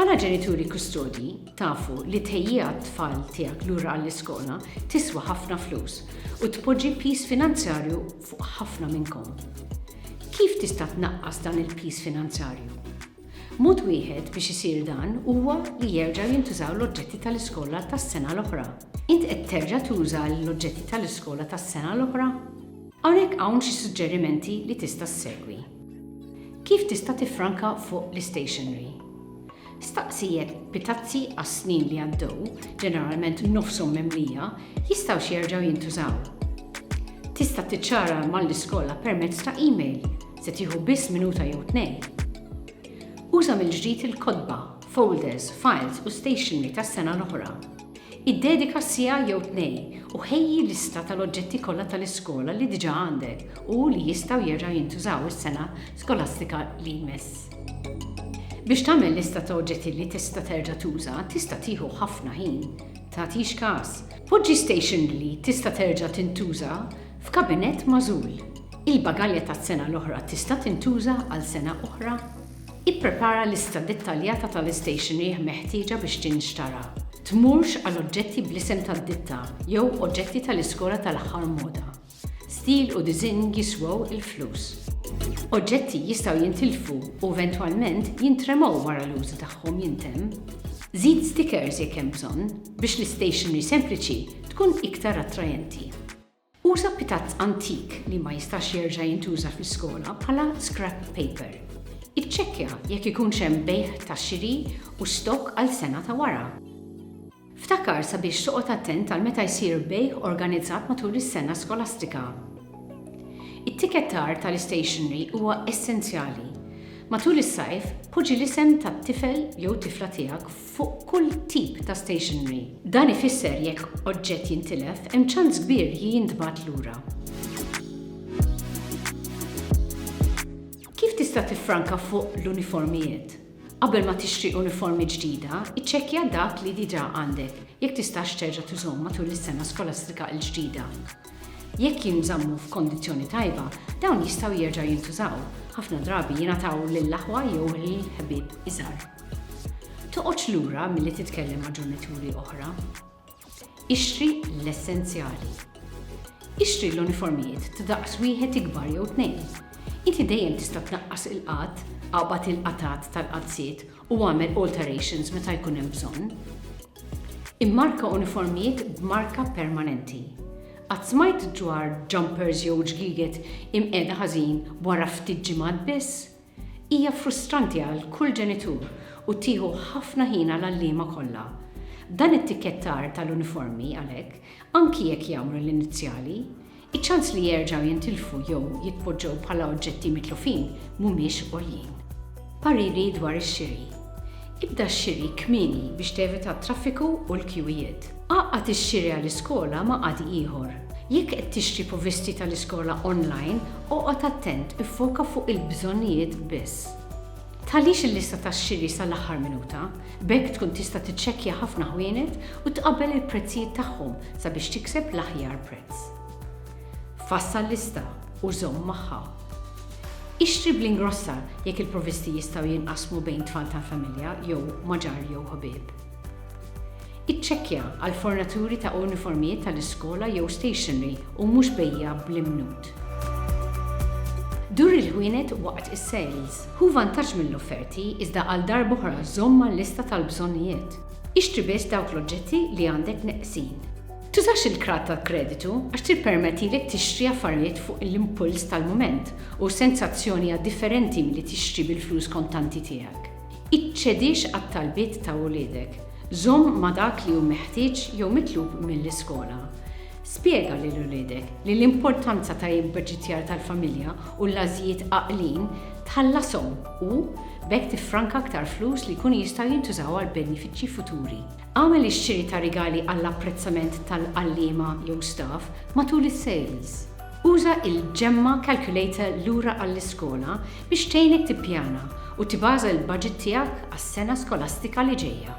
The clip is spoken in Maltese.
Bħala ġenituri kustodji tafu li tħejjija t-tfal tiegħek lura għall-iskola tiswa ħafna flus u tpoġġi pis finanzjarju fuq ħafna minnkom. Kif tista' tnaqqas dan il-pis finanzjarju? Mod wieħed biex isir dan huwa li jerġgħu jintużaw l-oġġetti tal-iskola tas-sena l-oħra. Int qed terġa' tuża l-oġġetti tal-iskola tas-sena l-oħra? Hawnhekk hawn xi suġġerimenti li tista' ssegwi. Kif tista' tiffranka fuq l-istationery? Staqsi jekk bit-tazzi għas-snin li għaddew, ġeneralment nofshom mimlija, jistgħux jerġgħu jintużaw. Tista' tiċċara mal-iskola permezz ta' email Se tieħu biss minuta jew tnejn. Uża mill-ġdid il-kotba, folders, files u stationery tas-sena l-oħra. Iddedika siegħa jew tnejn u ħejji lista tal-oġġetti kollha tal-iskola li diġà għandek u li jistgħu jerġgħu jintużaw is-sena skolastika li jmiss. Biex tagħmel lista ta' oġġetti li tista' terġa' tuża tista' tieħu ħafna ħin. Tagħtix każ. Poġġi stationery li tista' terġa' tintuża F'kabinett magħżul, il-bagalja tas-sena l-oħra tista' tintuża għal sena oħra? Ipprepara lista dettaljata tal-istationeryh meħtieġa biex tinxtara. Tmurx għal oġġetti bl-isem tad-ditta jew oġetti tal-iskola tal-aħħar moda. Stil u diżinn jiswew il-flus. Oġġetti jistgħu jintilfu u eventwalment jintremgħu wara l-użu tagħhom jintemm. Żid stikers jekk hemm bżonn biex l-istationery sempliċi tkun iktar attrajenti. Uża pitazz antik li ma jistax jerġa' jintuża fl-iskola bħala scrap paper. Iċċekkja jekk ikunx hemm bejgħ ta' xiri u stokk għal sena ta' wara. Ftakar sabiex toqgħod attent għal meta jsir bejgħ organizzat matul is-sena skolastika. It-tikkettar tal-istationery huwa essenzjali. Matul is-sajf, poġġi l-isem tat-tifel jew tifla tiegħek fuq kull tip ta' stationery. Dan ifisser jekk oġġett jintilef, hemm ċans kbir li jintbagħat lura. Kif tista' tiffranka fuq l-uniformijiet? Qabel ma tixtri uniformi ġdida, iċċekkja dak li diġà għandek, jekk tistax terġa' tużhom matul is-sena skolastika l-ġdida. Jekk jinżammu f'kondizzjoni tajba, dawn jistgħu jerġgħu jintużaw, ħafna drabi jingħataw lill-aħwa jew lill-ħbieb iżgħar. Toqgħodx lura milli titkellem ma' ġenituri oħra. Ixtri l-essenzjali. Ixtri l-uniformijiet ta' daqs wieħed ikbar jew tnejn. Inti dejjem tista' tnaqqas il-qgħad, aqbad il-qatgħat tal-qaddsiet u agħmel alterations meta jkun hemm bżonn. Immarka uniformijiet b'marka permanenti. Qatt smajt dwar jumpers jew ġgiget imqiegħda ħażin wara ftit ġimgħat biss? Hija frustranti għal kull ġenitur u tieħu ħafna ħin għall-għalliema kollha. Dan it-tikkettar tal-uniformi, għalhekk, anki jekk jagħmlu l-inizjali, Iċ-ċans li jerġgħu jintilfu jew jitpoġġew bħala oġġetti mitlufin mhumiex għoljin. Pariri dwar ix-xiri. Ibda x-xiri kmieni biex tevita t-traffiku u l-kjuwijiet. Għaqqad ix-xiri għall-iskola ma' qadi ieħor. Jekk qed tixtri provvisti tal-iskola online, oqgħod attent iffoka fuq il-bżonnijiet biss. Tħallix il-lista tax-xiri sal-aħħar minuta. B'hekk tkun tista' tiċċekkja ħafna ħwienet u tqabbel il-prezzijiet tagħhom sabiex tikseb l-aħjar prezz. Fassal lista u żomm magħha. Ixtri bl-ingrossa jekk il-provvisti jistgħu jinqasmu bejn tfal tal-familja jew ma' ġar jew ħbieb. Iċċekkja għal fornaturi ta' uniformijiet tal-iskola jew stationery u mhux bejjiegħa bl-imnut. Dur il-ħwienet waqt is-sales. Ħu vantaġġ mill-offerti iżda għal darb'oħra żomm mal-lista tal-bżonnijiet. Ixtri biss dawk l-oġġetti li għandek neqsin. Tużax il-krat tal-kreditu għax tippermettilek tixtri affarijiet fuq l-impuls tal-mument u s-sensazzjoni hija differenti milli tixtri bil-flus kontanti tiegħek. Iċċedix għat-talbiet ta' uliedek. Żomm ma' dak li hu meħtieġ jew mitlub mill-iskola. Spjega lil uliedek li l-importanza ta' ibbaġitjar tal-familja u l-għażijiet għaqlin tħallashom u b'hekk tiffranka aktar flus li jkunu jistgħu jintużaw għal benefiċċji futuri. Agħmel ix-xiri ta' rigali għall-apprezzament tal-għalliema jew staff matul is-sales. Uża l-Gemma Calculator Lura għall-Iskola biex tgħinek tippjana u tibaża l-baġit tiegħek għas-sena skolastika li ġejja.